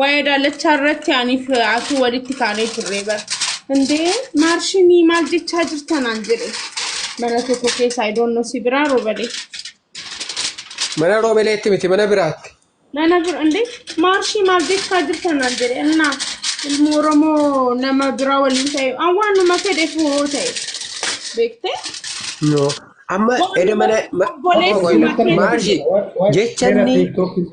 Waa'ee daallachaa irratti aniif asuu walitti kaanee turre bara. Indee maarshinii maal jechaa jirtanaan jedhe. Mana tokko keessa I don't know si biraa robalee. Mana roobeleetti miti mana biraatti. Mana bira indee maarshii maal jechaa jirtanaan jedhe. Innaa ilmoo Oromoo nama biraa waliin ta'e an waanuma fedheef hoo ta'e beektee. No. Amma eda mana ma- Obboleessi obbo Goyla, Maarshi Maarshi, jechanni- jechanni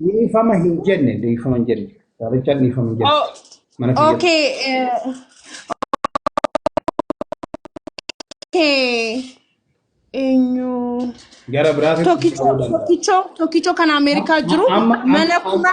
Dhiifama hin jenne, dhiifama hin jenne. Gaarichaan dhiifama hin jenne. Oh, Mana kiyya. okay. eh, okay. Eenyu? Gara biraatitti Tokkichoo, ta'uu danda'a. tokkichoo, tokkichoo kan Ameerikaa jiru Amma- amma- mana amma- kuma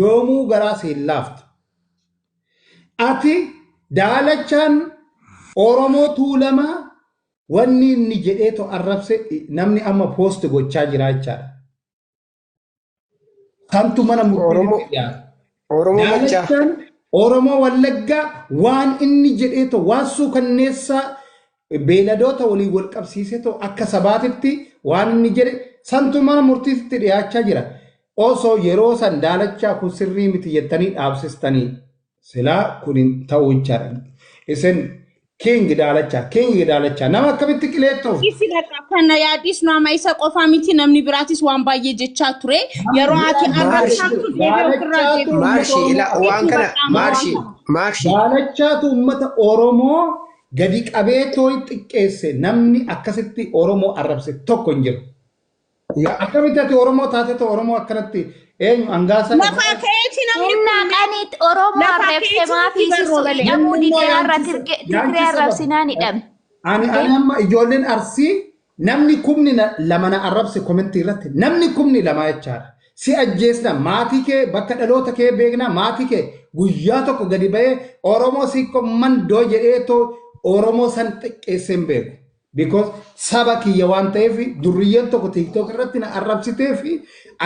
Yoomuu garaa si hin laaftu. Ati daalachaan Oromoo Tuulamaa wanni inni jedhee to arrabse namni amma post gochaa jiraa jechaadha. Santu mana murtiititti dhiyaata. Oromoo Maccaa. Daalachaan Oromoo Wallaggaa waan inni jedhee ta'u waan suukanneessaa beeladoota waliin wal qabsiisee ta'u akka sabaatitti waan inni jedhe santu mana murtiitti dhiyaachaa jira. Osoo yeroo san daalachaa kun sirrii miti jettanii dhaabsistanii silaa kun hin ta'u jechaadha. Isin King Daalachaa, King Daalachaa. Nama akkamitti qileettoo? Isi bakka kan na yaadisnu amma isa qofaa miti namni biraatis waan baay'ee jechaa ture. Yeroo ati Maarshi, arrabsaamtu deebi'ee ofirraa Daalachaa deebi'u. Maarshi ila waan kana maarshi maarshi Daalachaatu uummata Oromoo gadi qabee tooyi xiqqeesse namni akkasitti Oromoo arrabse tokko hin jiru. Yaa akkamitti ati Oromoo taatetu Oromoo akkanatti eenyu angaasaa Lafaa irraa ka'eeti namni Humnaa kun qaniitti Oromoo Lafaa arrabse ka'eeti maafi nutti sissu barroole. hidhamuu Namni immoo dideerra yaanchisa- Tigiree yaanchisa ba'a. arrabsinaan hidhame. Ani ani amma ijoolleen arsii namni kumni na- lama na arrabse komentii irratti namni kumni lama jechaadha. Si ajjeesna maatii kee bakka dhaloota kee beekna maatii kee guyyaa tokko gadi ba'ee Oromoo siikko mandoo jedhee too Oromoo san xiqqeessee hin beeku. Because saba kiyya waan ta'eef durriyyeen tokko tiktok irratti na arrabsitee fi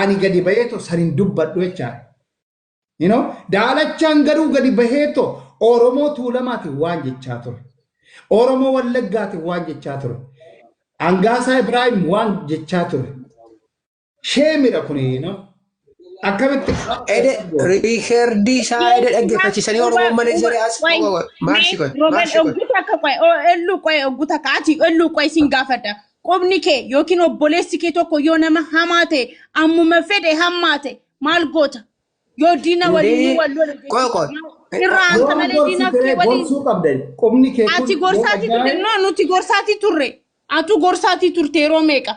ani gadi bahee too san hin dubbadhu jechaan. You know, daalachaan garuu gadi bahee too Oromoo Tuulamaati waan jechaa ture. Oromoo Wallaggaati waan jechaa ture. Angaasaa Ibraahim waan jechaa ture. Sheemidha kuni no. Akkamitti Ede riikerdii isaa ede dhaggeeffachiisanii Oromoon malee zeree as maarshi kun Roben maarshi kun. ogguta akka qoe elluu qoe ogguta akka ati elluu qoe sin gaafadha. Qubni kee yookiin obboleessi kee tokko yoo nama hamaa ta'e ammuma fedhe hammaa ta'e maal goota? Yoo diina waliin Hundee wal lole jechuudha. qoe qoe. Irraa hanta yoo malee diina gorsite kee waliin gorsuu qabda. Qubni kee kun ati yoo gorsaatii turte ajjaa'e no nuti gorsaatii turre. Atu gorsaatii turte yeroo meeqa?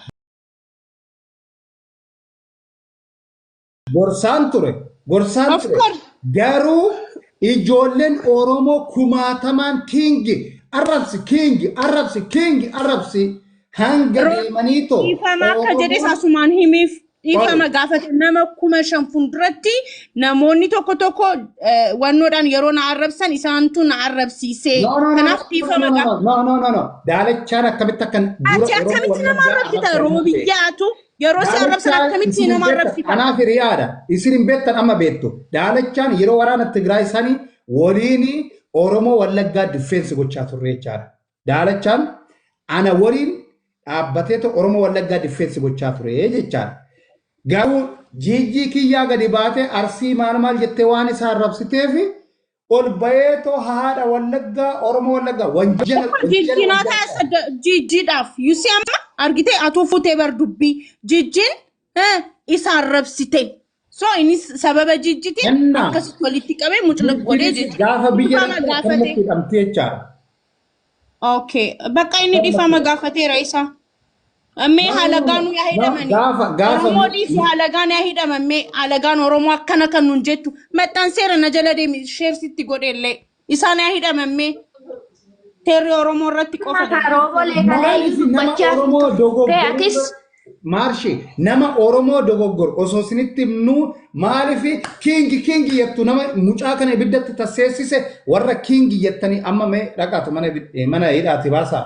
Gorsaan ture. Gorsaan Of ture. course. Garuu ijoolleen Oromoo kumaatamaan kiingi arrabsi kiingi arrabsi kiingi arrabsi hanga Ro- deemanii too. Dhiifama akka jedhes asumaan himiif dhiifama gaafate nama kuma shan fuulduratti Namoonni tokko tokko eh, wannoodhaan yeroo na arrabsan isaantu na arrabsiisee No, no, no, kanaaf no, dhiifama no, no, qaba. no, no, no, no. Daalachaan akkamitti akkan dura Ati Oromoo akkamitti wal nama argaa arrabsita arrabsan hin beeku. roobiyyaatu yeroo si arrabsan Daalachaan akkamitti isin hin nama beektan. arrabsita? Kanaaf hiriyaadha. Isin hin beektan amma beektu. Daalachaan yeroo waraana Tigraay sanii waliin Oromoo Wallaggaa diffeensi gochaa turre jechaadha. Daalachaan ana waliin dhaabbateetu Oromoo Wallaggaa diffeensi gochaa ture jechaan. Garuu jiijjii kiyyaa gadi baatee arsii maal maal jettee waan isaa arrabsiteef ol bayeetoo haadha Wallaggaa Oromoo Wallaggaa wanjala Amma wanjala jijjiin haa wanjala taasisu jijjiidhaaf. Yusii amma argitee atuu fuutee bar dubbii. Jijjiin Eh, isa arrabsite so innis sababa jijjiti Ennaa. akkasitti walitti qabee mucluq godhee Innis jechuudha. gaafa biyya Dhifama dhaqxee gaafate. akkanumatti hidhamti jechaadha. Okay. Bakka inni dhifama gaafateera isa. Mee halagaan yaa hidhamani. Gaafa- gaafa- Oromoo dhiisi halagaan yaa hidhaman mee halagaan Oromoo akkana kan nun jettu maxxanseera na jala deemi sheersitti godheellee. Isaan haa hidhaman mee seerri Oromoo irratti qofa Mata dalagaa. roobolee kalee Maaliif nama dubbachaa Oromoo turtee dogoggoruu atis maarshi nama Oromoo dogoggor osoo isinitti himnuu maaliif kiingi kiingi jettu nama mucaa kana ibiddatti tasseessise warra kiingi jettanii amma mee dhaqaatu mana ibid- eh, mana hidhaati baasaa.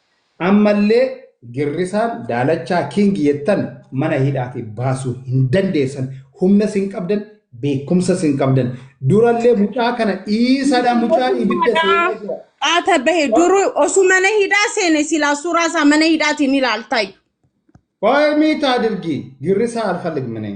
Ammallee girrisaan daalachaa king jettan mana hidhaatii baasuu hin dandeessan humnas hin qabdan beekumsas hin qabdan durallee mucaa kana dhiisadha mucaan ibidda seenee jira. Qaata bahe duru osu mana hidhaa seene silaa suuraa isaa mana hidhaatiin ilaaltayyu. Qoy miitaa dirgii girrisaa alfalig minee.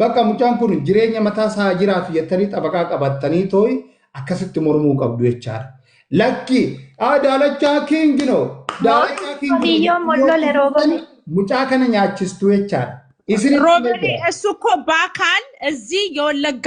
Bakka mucaan kun jireenya mataa isaa haa jiraatu jettanii xabaqaa qabattanii tooyi akkasitti mormuu qabdu jechaadha. Lakki aa daalachaa kiingi no daalachaa Mootiin kiingi no qotiyyoon jettanii yoo mollole roobole. kufuutan mucaa kana nyaachistu jechaadha. Isinitti roobani himee jira. esuko baakaal እዚህ የወለጋ